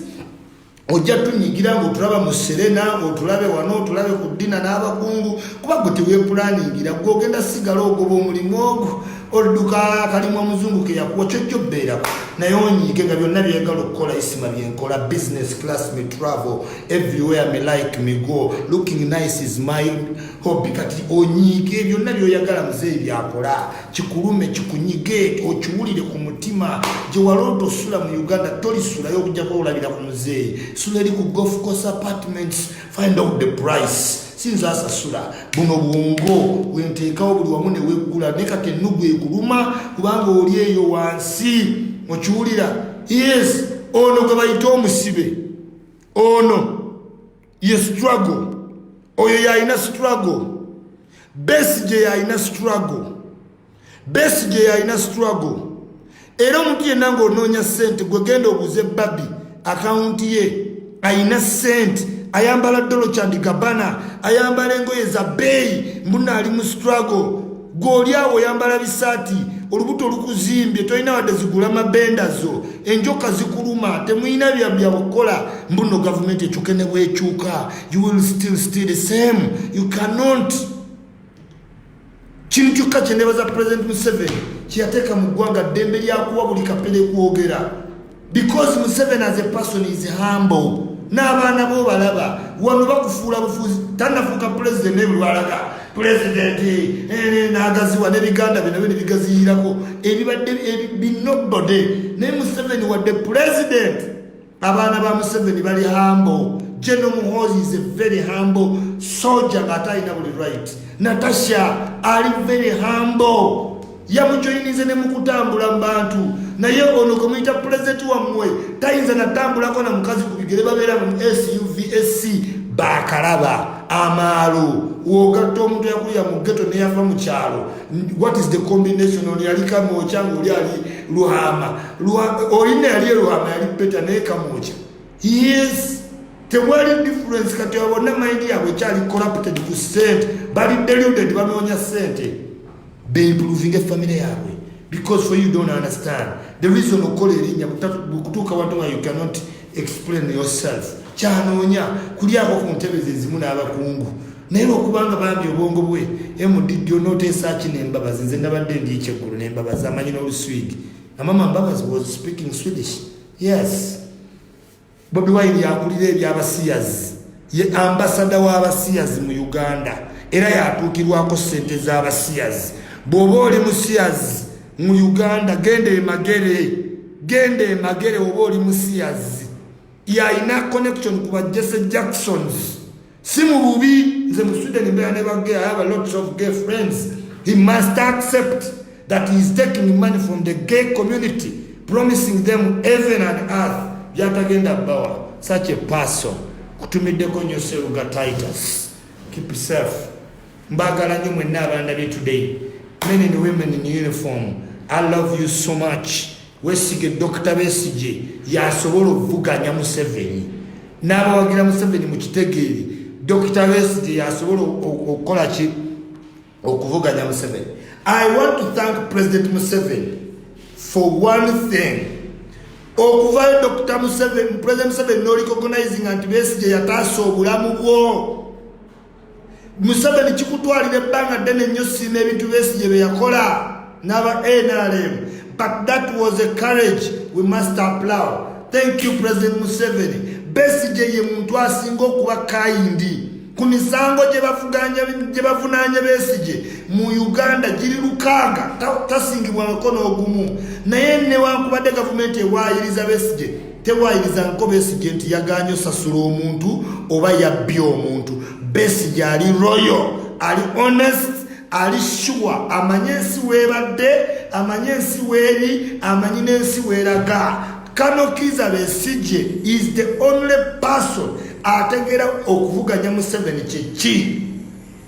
ojja tunyigira ngaotulaba mu serena otulabe wano otulabe ku ddina n'abakungu kuba gwe tewepulaningira gwe ogenda sigala ogoba omulimu ogwo oluduka kalimu omuzungu keyakuwa kyojja obbeerako naye onyiige nga byonna byegala okukola isima byenkola business class me travel everywhere me like me go looking nice is my hobby kati onyiige byonna byoyagala muzeeyi byakola kikulume kikunyige okiwulire ku mutima gye waloota osula mu uganda tolisulayo okujjako olabira ku muzeeyi sula eri ku golf course apartments find out the price sinza asasula buno bwongo wenteekawo buli wamu neweggula ne kati ennugu ekuluma kubanga oli eyo wansi mukiwulira yes ono gwe bayite omusibe ono ye struggle oyo yalina struggle besi gye yalina struggle besi gye yalina struggle era omuntu yenna ng'onoonya ssente gwe genda obuze babi akawunti ye alina ssente ayambala dolo kyandi gabana ayambala engoye za bbeeyi mbunaali mu struggle gwe oli awo oyambala bisaati olubuto lukuzimbye tolina wadde zigula mabenda zo enjoka zikuluma temulina byabyakukola mbuno gavumenti ekyuke ne bwekyuka you will still still the same you cannot kintu kyokka kyenebaza president museveni kyeyateeka mu ggwanga ddembe lyakuwa buli kapere kwogera because museveni as a person is humble n'abaana bo balaba wano bakufuula bufuzi tanafuuka pulezidenti nebulwalaga pulezidenti eh, nagaziwa nebiganda bye nabyo nebigaziyirako ebibadde binobode naye museveni wadde pulezidenti abaana ba museveni bali hambo geno muhozi is a very hambo soja ng'ate alina buli right natasha ali very hambo yamujoyinize ne mukutambula mu bantu naye ono gwe muyita pulezidenti wammwe tayinza natambulako na mukazi ku bigere babeera mu suvsc bakalaba amaalo wogatta omuntu yakulira mu geto neyava mu kyalo what is the combination ono yali kamokya ngaoli ali luhama olina yali eluhama yali peta naye kamokya yes tewali difference kati abona mayindi yabwe ekyali corrupted ku sente bali deluded banoonya sente bempuluvinga efamire yaabwe because for you don't understand the reason okukola erinnya kutuuka watu nga you cannot explain yourself kyanoonya kulyako ku ntebe zezimu n'abakungu naye lwokubanga bambi obwongo bwe mdd onoteesa ki nembabazi nze nabadde ndi ekyeggulu nembabazi amanyi n'oluswidi amama mbabazi was speaking swedish yes Bobi Wine yakulira eby'abasiyazi, ye ambasada w'abasiyazi mu Uganda era yatuukirwako ssente z'abasiyazi. Bw'oba oli musiyazi mu Uganda genda emagere, genda emagere oba oli musiyazi. Y'alina connection ku ba Jesse Jacksons. si mu bubi nze mu sweden mbeera ne bagay i have a lots of gay friends he must accept that he is taking money from the gay community promising them heaven and earth byatagenda bawa such a person kutumiddeko nyo seruga titus keep safe mbagala nyo mwenna abandabye today men and women in uniform i love you so much Wesige Dokita Besigye yasobola okuvuganya Museveni n'abawagira Museveni mu kitegeeri. Dokita Besigye yasobola okukola ki okuvuganya Museveni. I want to thank President Museveni for one thing. Okuvayo Dokita Museveni, President Museveni n'olicognizinga nti Besigye yataasa obulamu bwo. museveni kikutwalira ebbanga ddene nnyo siima ebintu besigye bye yakola n'aba nrm but that was a courage we must applaw thank you president museveni besigye ye muntu asinga okuba kayindi ku misango gye bavunaanya besigye mu uganda giri lukaaga tasingibwangako n'ogumu naye newankubadde gavumenti ewaayiriza besigye tewaayiriza nko besigye nti yagaanye osasula omuntu oba yabbye omuntu besigye ali royo ali honest ali shuwa amanye ensi weebadde amanye ensi weeri amanyi n'ensi weeraga kano kiza besigye is the only person ategeera okuvuganya museveni kyeki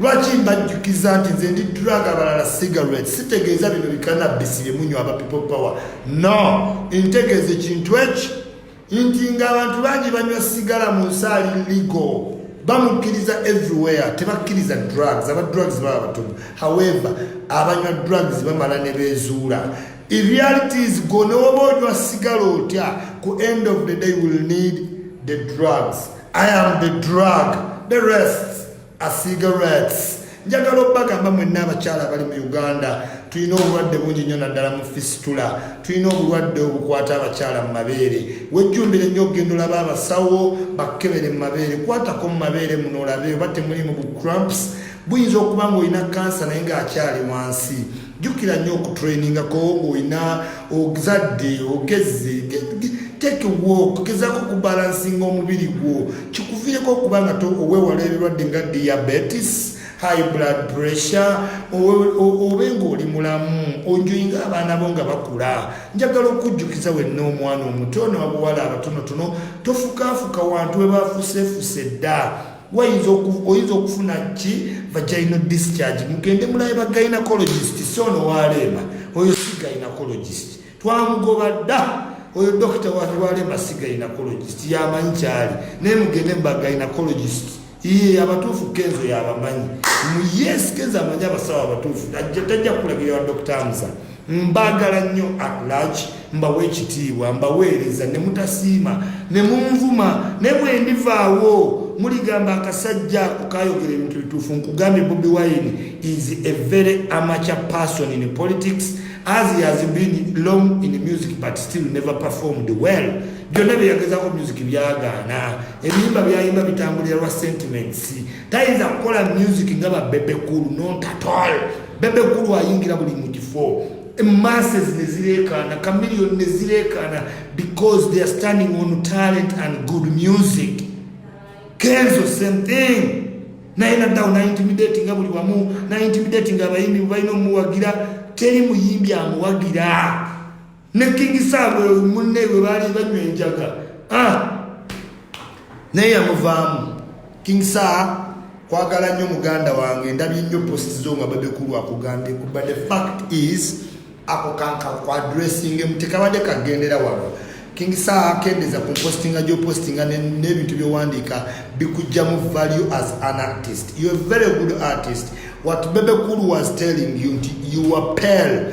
lwaki mbajjukiza nti nze ndi drug abalala cigarette sitegeeza bino bikanabisi byemunywa aba people power no ntegeeza ekintu eki nti nga abantu bangi banywa sigala mu nsi ali ligo bamukkiriza everywhere tebakkiriza drugs aba drugs baba batono however abanywa drugs bamala ne beezuula erealities go newoba onywa sigala otya ku end of the day will need the drugs i am the drug the rest asiiga rats njagala obagamba mwenna abakyala abali mu uganda tulina obulwadde bungi nnyo naddala mu fisitula tulina obulwadde obukwata abakyala mu mabeere wejjumbire nnyo okugenda olaba abasawo bakkebere mu mabeere kwatako mu mabeere muno olabe oba temulimu bu cramps buyinza okuba ngaolina kansa naye ngaakyali wansi jjukira nnyo okutrainingako ng'olina ogzadde ogezze take walk gezako okubalansinga omubiri gwo kikuviireko okuba nga owewala ebirwadde nga diabetes high blood pressure obe ng'oli mulamu onjoyinga abaana bo nga bakula njagala okujjukiza wenna omwana omuto nawabuwala abatonotono tofukaafuka wantu webafuseefuse dda wayinza oyinza okufuna ki vagina discharge mugende mulaye ba gynecologist si ono waleema oyo si gynecologist twamugoba dda oyo dokita waleema si gynecologist yamanyi kyali naye mugende muba gynecologist iye abatuufu kenzo yabamanyi yes kenzo amanyi abasawo abatuufu tajja kulagira wa dokita amusa Mbagala nnyo at large, mbawa ekitiibwa, mbaweereza ne mutasiima ne munvuma, ne bwe ndivaawo muligamba akasajja ako kaayogera ebintu bituufu. Nkugambye Bobi Wine is a very amateur person in politics as he has been long in music but still never performed well. Byonna bye yagezaako music byagaana, ebiyimba byayimba bitambulira lwa sentiments. tayinza kukola music nga ba bebe cool not at all bebe cool ayingira buli mu kifo masses ne zireekaana chameleon ne zireekaana because they are standing on talent and good music kenzo same thing naye naddawo naintimidati nga buli wamu naintimidati nga abayimbi balina omuwagira teri muyimbi amuwagira ne king sam munne we baali banywa enjaga ah! naye yamuvaamu king saa kwagala nnyo muganda wange ndabye nnyo post zo nga babekulu akugambye kuba the fact is ako kanka ku addressing mu tekabadde kagendera wano king saa kendeza ku postinga gyopostinga n'ebintu byowandiika bikujjamu value as an artist you a very good artist what bebekulu was telling you nti you are pale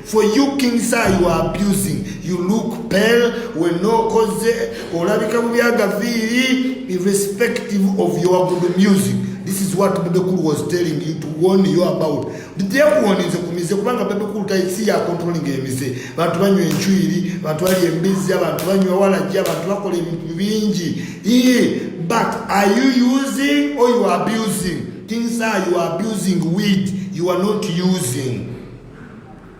For you King Sir you are abusing. You look pale when no cause olabika mu byagaviiri irrespective of your good music. This is what Bebe Cool was telling you to warn you about. Did you warn you to mize kubanga Bebe Cool ta si ya controlling game mize. Bantu banywe enchwiri, bantu bali embizi, bantu banywe wala jia, bantu bako le mbinji. Iye, but are you using or you are abusing? King Sir you are abusing weed. You are not using.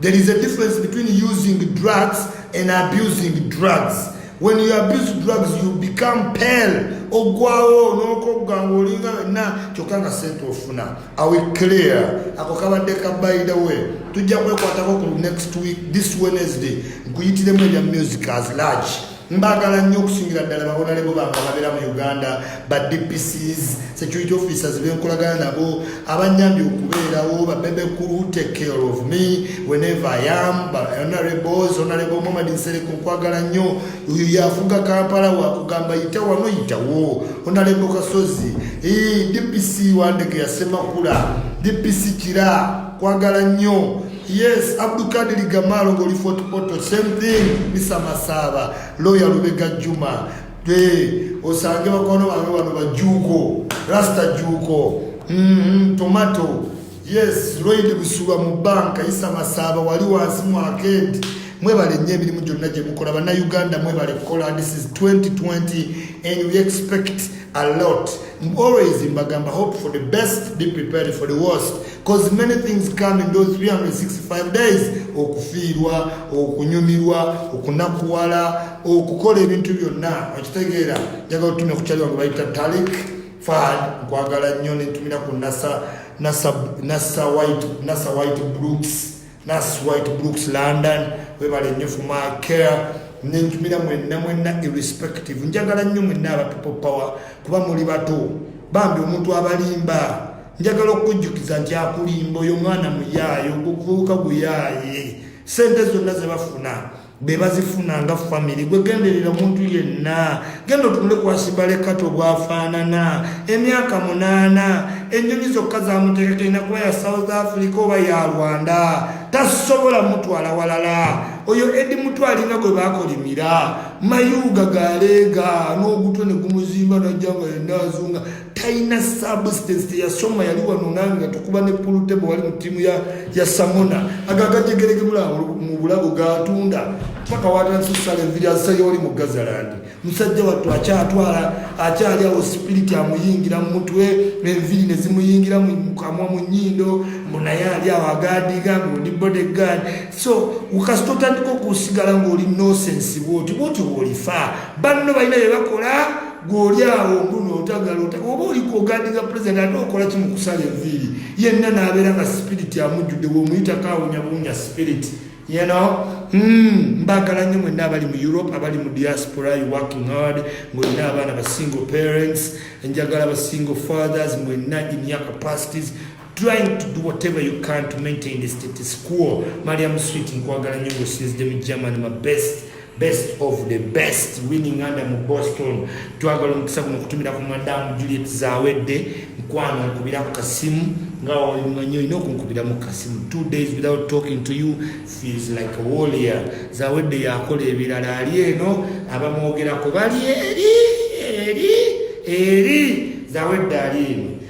There is a difference between using drugs and abusing drugs. When you abuse drugs, you become pale. Ogwawo nokogga ng'olinga wenna kyokka nga sente ofuna. I will clear. Ako kabadde ka by the way. Tujja kwekwatako ku next week this Wednesday nkuyitiremu ebya music as large. Mbagala nnyo okusingira ddala bawonalebo bange ababeera mu Uganda, ba DPCs, security officers benkolagana nabo, abanyambye okubeerawo, ba bebe kulu take care of me whenever I am, ba honorables, honorable Muhammad Nsereko nkwagala nnyo, uyu yafuga Kampala wakugamba yita wano yitawo, honorable Kasozi, ee DPC wandege ya Semakula, DPC Kira, kwagala nnyo. Yes, Abdul Kadir Gamalo goli Fort Portal, same thing ni Samasaba, lawyer Lubega Juma. Hey, osange bakono bange bano bajuko, Rasta Juko, mm -hmm, Tomato. Yes, Lloyd Busuba mu banka Isa Masaba wali wansi mu arcade. Mwebale nnyo emirimu gyonna gye mukola bannayuganda mwebale kukola this is 2020 and we expect a lot always mbagamba hope for the best be prepared for the worst cause many things come in those 365 days okufiirwa okunyumirwa okunakuwala okukola ebintu byonna okitegeera njagala otumya kukyali wange bayita talik fad nkwagala nnyo nentumira ku nasa nasa nasa white nasa white brooks Nas White Brooks London webale nnyo for my care nenjumira mwenna mwenna irrespective njagala nnyo mwenna aba people power kuba muli bato bambi omuntu abalimba njagala okujjukiza nti akulimba oyo mwana muyaaye ogukuuka guyaaye sente zonna zebafuna bebazifuna nga famiry gwegenderera omuntu yenna genda otunule kwasibalekati obwafaanana emyaka munaana enyonyi zokka zamutekeka ina kuba ya south africa oba ya rwanda tasobola mutwala walala oyo edi mutwalinga gwe bakolimira mayuuga galeega n'ogutwe ne gumuzimba najjanga yenna azunga talina substance teyasoma yali wano nange tukuba ne pulutebo wali mu tiimu ya, ya samona agagajegerege mu bulago gatunda paka watandise okusala enviri azisayo oli mu gazalandi musajja wattu akyatwala akyali awo sipiriti amuyingira mu mutwe enviri ne zimuyingira mu kamwa mu nyindo munaye ali awo agaadiga ngaoli body guard so kasita otandika okusigala ngaoli nosensi bwoti bwoti bwolifa banno balina bye bakola gwoli awo guno otagala oba oliko ogandiza pulezidenti ate okola ki mu kusala enviiri yenna n'abeera nga sipiriti amujjudde womuyitako awunyabunya sipiriti you know hmm, mbagala nnyo mwenna abali mu europe abali mu diaspora you working hard ngolina abaana ba single parents enjagala ba single fathers mwenna in your capacities trying to do whatever you can to maintain the status quo mariam sweet nkwagala nyo ngosinzide mu german ma best best of the best winning under mu boston twagala omukisa guno okutumira ku madamu juliet zawedde nkwano nkubira ku kasimu nga walimanyi olina okunkubira mu kasimu two days without talking to you feels like a warrior zawedde yakola ebirala ali eno abamwogerako bali eri eri eri zawedde ali eno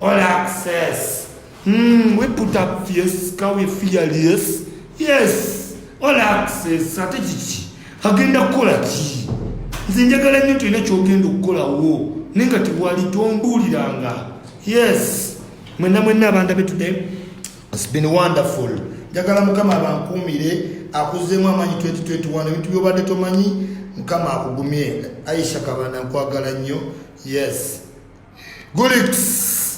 All access. Mm, we put up fierce, ka we fearless. Yes. All access. Ate kiki? Agenda kukola ki? Nze njagala nnyo tulina kyogenda okukolawo naye nga tewali tombuuliranga. Yes. Mwenna mwenna abanda be today. It's been wonderful. Njagala mukama abankuumire akuzeemu amaanyi 2021 ebintu byobadde tomanyi mukama akugumye. Aisha Kabanda nkwagala nnyo. Yes. gulit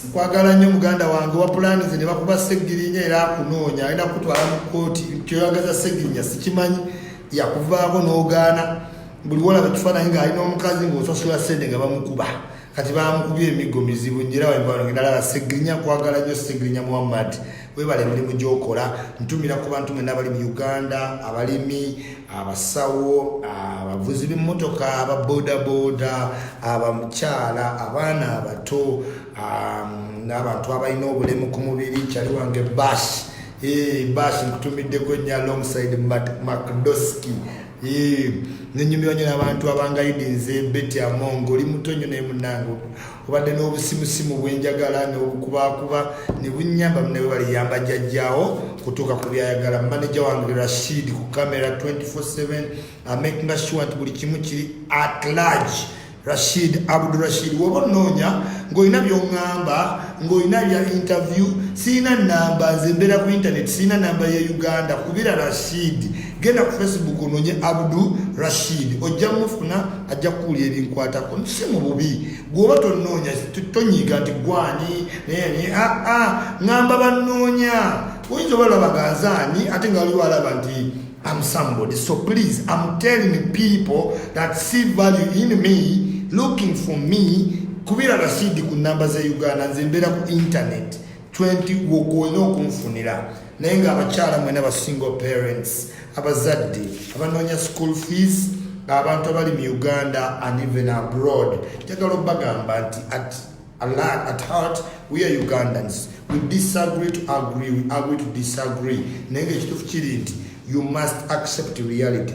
nkwagala nnyo muganda wange wa pulaani ze ne bakuba ssegirinya era akunoonya alina kukutwala mu kkooti kyoyagaza ssegirinya sikimanyi yakuvaako n'ogaana buli wolaba ekifaananyi ng'ali n'omukazi ng'osasula ssente nga bamukuba kati bamukubye emiggo mizibu njera wembangendalaba segirinya kwagala nyo segirinya muhammad webala emirimu gyokola ntumira ku bantu mwena abali mu uganda abalimi abasawo abavuzi b'emmotoka aba bodaboda abamukyala abaana abato um, n'abantu abalina obulemu ku mubiri kyali wange bas eh, bas nkutumiddeko nnyo alongside macdoski eh, nenyumirwa nyo nabantu abangayidinze beti amongo oli muto nyo naye munange obadde n'obusimusimu bwenjagala n'okukubaakuba ne bunyamba mune bwe baliyamba jjajjaawo kutuuka ku byayagala maneja wange rashid ku kamera 247 amakinga sure nti buli kimu kiri at large rashid abdurashid woba onoonya ng'olina byoŋŋamba ng'olina bya interview sirina namba nze mbeera ku intaneti sirina namba ya uganda kubira rashid genda ku facebook ononye abdu rashid ojja mufuna ajja kuwulira ebinkwatako si mu bubi gwoba tonoonya tonyiiga nti gwani nayeni aa ah, ah, ŋamba banoonya oyinza oba labaganzaani ate nga waliwo alaba nti am somebody so please am telling people that see value in me looking for me kubira rashid ku namba za uganda nze mbeera ku internet 20 wokuolina okunfunira naye nga abakyala mwena ba single parents abazadde abanoonya school fees abantu abali mu uganda and even abroad njagala obagamba nti at Allah, at heart we are ugandans we disagree to agree we agree to disagree naye nga ekituufu kiri nti you must accept reality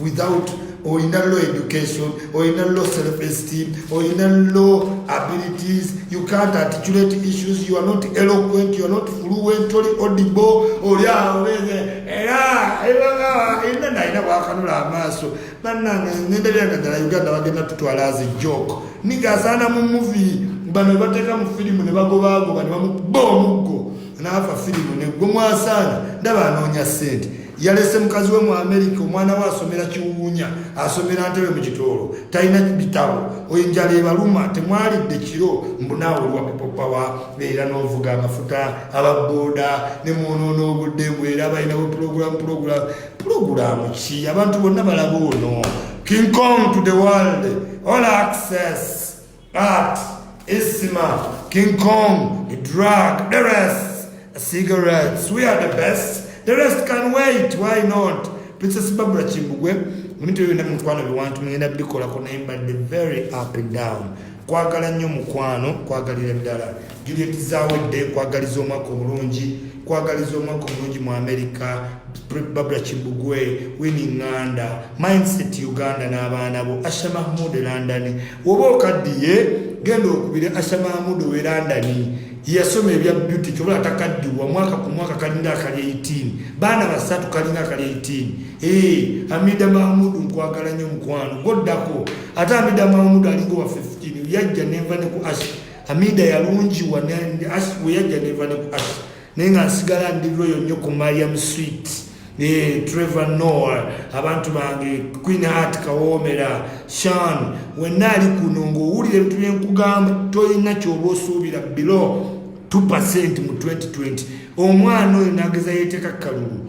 without olina low education olina low self esteem olina low abilities you can't articulate issues you are not eloquent you are not fluent oli audible oli aweze era ina naina wakanula amaaso banange ngenda byanga ddala uganda bagenda tutwala as a joke nigazaana mu movie bano bateka mu filimu ne bagobagoba ne bamukuba omuggo naafa filimu negwe mwasaana ndaba anoonya sente yalese mukazi we mu amerika omwana we asomera kiwuwunya asomera ntebe mu kitoolo talina bitabo enjala ebaluma temwalidde kiro mbunaawe olwa pipopawa era n'ovuga amafuta ababooda ne mwonoona obudde mbu era balinawo pulogulamu pulogulamu pulogulamu ki abantu bonna balaba ono king kong to the world all access But Isma, King Kong, the drug, the rest, cigarettes, we are the best. The rest can wait, why not? Princess Barbara Chimbugwe, mtu yoyo na mkwano biwantu mwingine bikola kuna imba the very up and down. Kwagala nyo mkwano, kwagalira bidala. Juliet Zawedde nkwagaliza omwaka omulungi nkwagaliza omwaka omulungi mu Amerika Barbara Kibugwe Winnie Nganda Mindset Uganda n'abaana bo Asha Mahmud e London woba okaddiye genda okubire Asha Mahmud owe London yeyasoma ebya beauty kyobola atakaddiwa mwaka ku mwaka kalinga akali 18 baana basatu kalinga akali 18 ee Amida Mahmud nkwagala nnyo mukwano goddako ate Amida Mahmud alinga owa 15 yajja nenva ne ku Asha Hamida yalungiwa weyajja neva ne ku Asha naye nga nsigala ndi loyo nnyo ku Mariam Sweet eh, Trevor Noah abantu bange Queen Heart Kawomera Shan wenna ali kuno ng'owulira ebintu byenkugamba tolina kyoba osuubira below 2% mu 2020 omwana oyo nageza yeteeka kalulu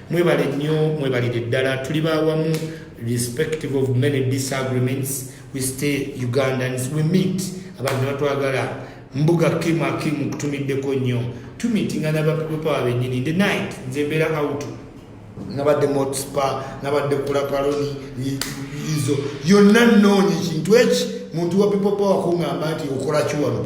mwebale nnyo mwebalire ddala tuli bawamu respective of many disagreements we stay ugandans we meet abantu batwagala mbuga kim akim kutumiddeko nnyo tumitinga nabapepopawa benyini nde night nze mbeera auto nabadde motspa nabadde kulapaloni izo yonna noonyi ekintu eki muntu wa pepopawa kungamba nti okola kiwano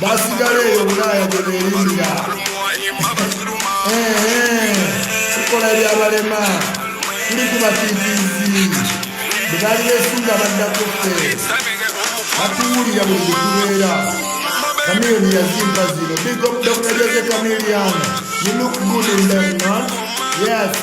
basigala eyo bulaaya gye beerimbira tukola ebyabalema tuli ku batiitiizi bwe baali beesunga baddako ffe batuwulira buli bwe tubeera kamiyoni yazimba zino big up dr jose kamilian you look good in them man yes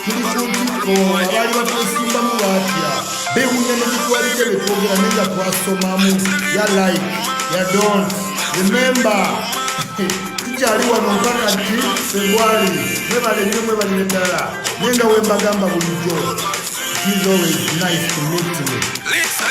abaali batwesimbamu baatya bewunya nekitwalidde betwogera naye nga twasomamu ya like ya don't remember tukyali wano mpaka ki febwali mwebale nnyo mwebalire ddala naye nga wembagamba bulijjo He's always nice to meet me.